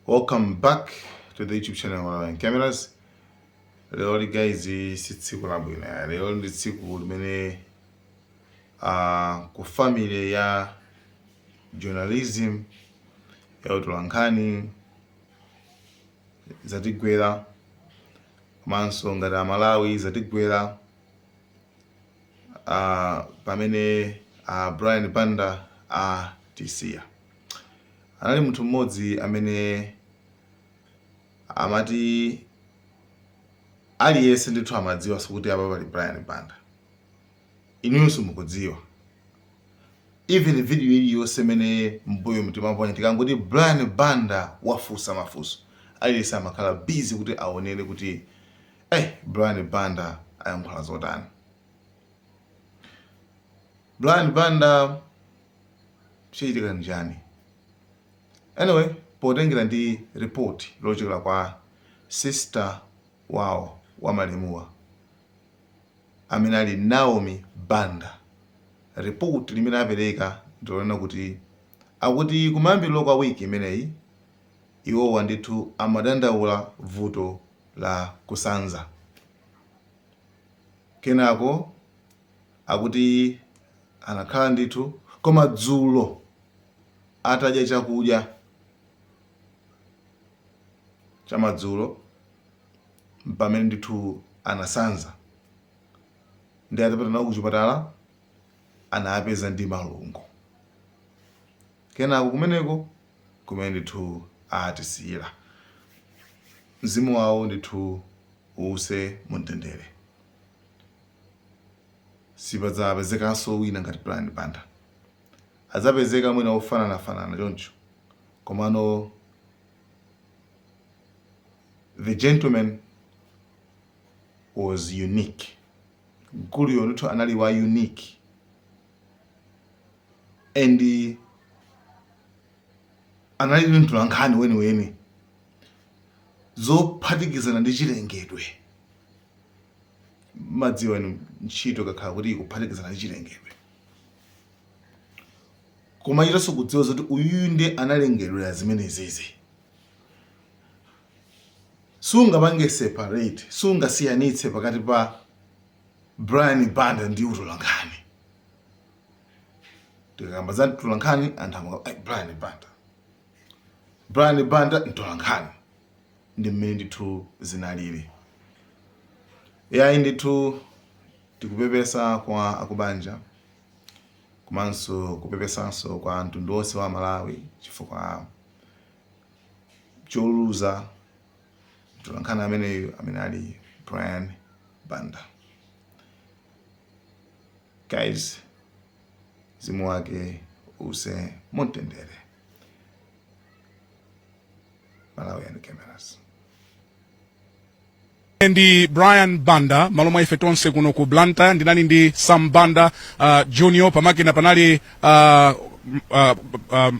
welcome back to the youtube channel Malawian cameras lero lino guys si tsiku labwino ya lero ndi tsiku limene uh, ku family ya journalism ya utolankhani zatigwera komanso ngati amalawi zatigwera uh, pamene uh, brian banda atisiya uh, Anali munthu mmodzi amene amati aliyense ndithu amadziwa kuti apa pali Brian Banda. Inuyonso mukudziwa. Even video iliyonse imene mbuyomu timaponya tikangoti Brian Banda wafunsa mafunso. Aliyense amakhala busy kuti aonere kuti eh Brian Banda ayankhula zotani. Brian Banda chachitika nchani anyway potengera ndi report lochokera kwa sister wawo wa malemuwa amene ali naomi banda report limene apereka ndilonena kuti akuti kumayambiriro kwa wiki imeneyi iwowa ndithu amadandaula vuto la kusanza Kenako akuti anakhala ndithu koma dzulo atadya chakudya chamadzulo mpamene ndithu anasanza ndi atapita nawo kuchipatala anawapeza ndi malungo kenako kumeneko kumene ndithu atisiyira. Mzimu wawo ndithu uwuse mu mtendere. Sipadzapezekanso wina ngati Brian Banda. Adzapezeka mwina wofananafanana choncho komano the gentleman was unique. Mkuluyo ndithu anali wa unique. and anali mtolankhani weniweni zophatikizana ndi chilengedwe mukudziwa ntchito ikakhala kuti ikuphatikizana ndi chilengedwe umachitanso kudziwa zoti uyuyu nde analengedwera zimenezizi sungapange separate sungasiyanitse pakati pa brian banda ndi utolankhani tikakamba za utolankhani anthu amaka "Ai, brian banda brian banda mtolankhani ndi mmene ndithu zinalili yayi ndithu tikupepesa kwa akubanja komanso kupepesanso kwa mtundu wonse wa malawi chifukwa choluza mtolankhani ameneyu amene ali brian banda guys mzimu wake uuse mumtendere malawi and cameras ndi brian banda malo mwa ife tonse kuno ku blantyre ndinali ndi sam banda uh, junior pamakina panali uh, m- uh, um,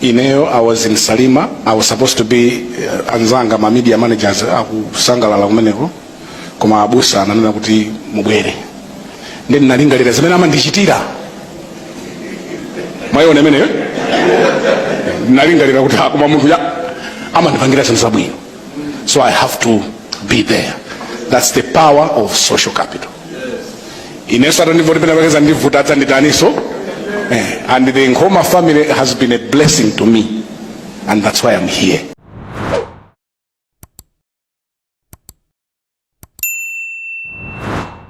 ineyo i was in salima i was supposed to be uh, anzanga ma media managers akusangalala kumeneko koma abusa ananena kuti mubwere nde ndinalingalira zimene amandichitira mwayiona imeneyo ndinalingalira kuti akoma munthu ya amandipangira zinthu zabwino so i have to be there that's the power of social capital ineso atandivoti penapake ndivuta adzanditaniso eh, and the Nkhoma family has been a blessing to me and that's why I'm here